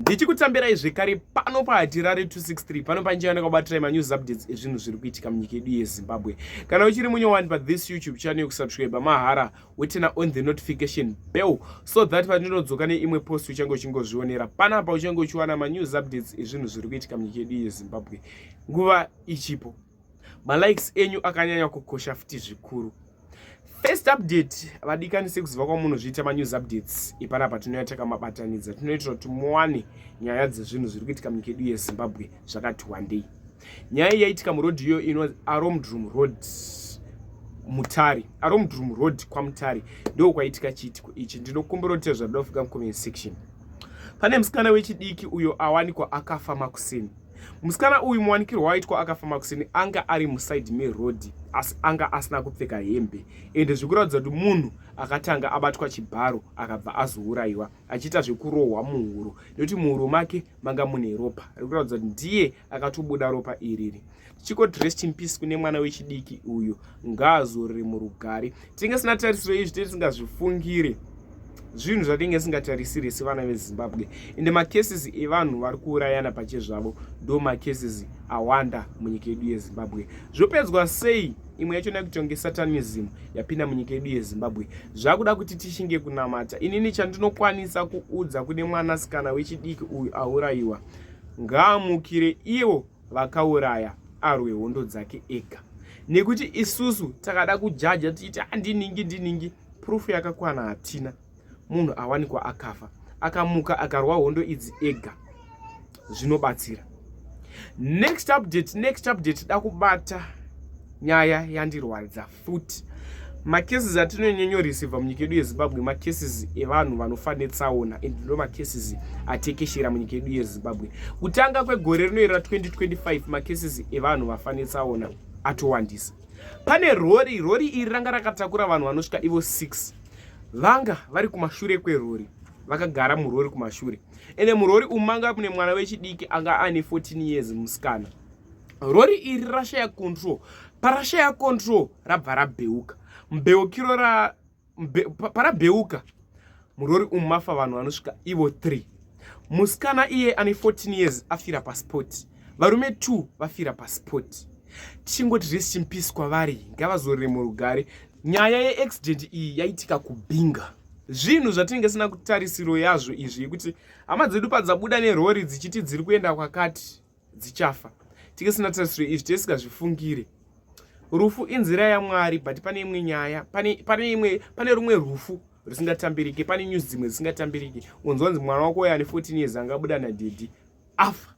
ndichikutambirai zvekare pano pahatirare 263 pano panjeyana kwabatirai manews updates ezvinhu zviri kuitika munyika yedu yezimbabwe kana uchiri munyowani pathis youtube channel yokusubscribe mahara wetena on the notification bell so that pandinodzoka neimwe post uchange uchingozvionera panapa uchange uchiwana manews updates ezvinhu zviri kuitika munyika yedu yezimbabwe nguva ichipo malikes enyu akanyanya kukosha futi zvikuru first update vadikani sekuziva kwamunozviita manews updates ipana patinouya takamabatanidza tinoitira kuti muwane nyaya dzezvinhu zviri kuitika munyika yedu yezimbabwe zvakati wandei nyaya iyi yaitika muroad iyo inonzi aromdroom road mutari aromdroom road kwamutari ndo kwaitika chiitiko ichi ndinokumbira kuti zvadofika mucomment section pane musikana wechidiki uyo awanikwa akafa makuseni Musikana uyu muwanikirwo waitwa akafa makuseni anga ari muside meroad asi anga asina kupfeka hembe ende zvikuratidza kuti munhu akatanga abatwa chibharo akabva azouraiwa achiita zvekurohwa muhuro nekuti muhuro make manga mune ropa rikuratidza kuti ndiye akatobuda ropa iriri chiko dressed in peace kune mwana wechidiki uyu ngaazorore murugare tinge sina tarisiro izvi tee tisingazvifungire zvinhu zvatinge singatarisire sevana vezimbabwe ende macases evanhu vari kuurayana pache zvavo ndo macases awanda munyika yedu yezimbabwe zvopedzwa sei imwe yacho nekuti yange satanism yapinda munyika yedu yezimbabwe zvakuda kuti tishinge kunamata inini chandinokwanisa kuudza kune mwanasikana wechidiki uyu aurayiwa ngaamukire iwo vakauraya arwe hondo dzake ega nekuti isusu takada kujaja tichiti andiningi ah, ndiningi proof yakakwana hatina munhu awanikwa akafa akamuka akarwa hondo idzi ega zvinobatsira next update next update da kubata nyaya yandirwadza futi macases atinonyonyoreceiva munyika yedu yezimbabwe macases evanhu vanofa netsaona and ndo macases atekeshera munyika yedu yezimbabwe kutanga kwegore rinoyera 2025 macases evanhu vafa netsaona atowandisa pane rori rori iri ranga rakatakura vanhu vanosvika ivo 6 vanga vari kumashure kwerori vakagara murori kumashure ende murori umu manga mune mwana wechidiki anga ane 14 years musikana rori iri rashaya control parashaya control rabva rabheuka mbeukiro ra mbe, parabheuka murori umu mafa vanhu vanosvika ivo 3 musikana iye ane 14 years afira paspoti varume 2 vafira paspoti tichingoti resi chimpisi kwavari ngavazorere murugare nyaya yeaccident iyi yaitika kubinga zvinhu zvatinenge sina kutarisiro yazvo izvi yekuti hama dzedu padzabuda nerori dzichiti dziri kuenda kwakati dzichafa tikisina tarisiro izvi tisikazvifungire rufu inzira yamwari but pane imwe nyaya pane pane imwe pane rumwe rufu rusingatambirike pane news dzimwe dzisingatambirike unzwanzi mwana wako uyo ane 14 years anga abuda nadhedhi afa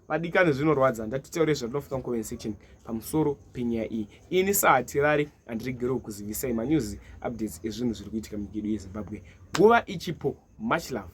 vadikani zvinorwadza ndatitaure zvatinofuka mucoment section pamusoro penyaya iyi ini sahatirari handiregerewo kuzivisai manews updates ezvinhu zviri kuitika munyika yedu yezimbabwe nguva ichipo much love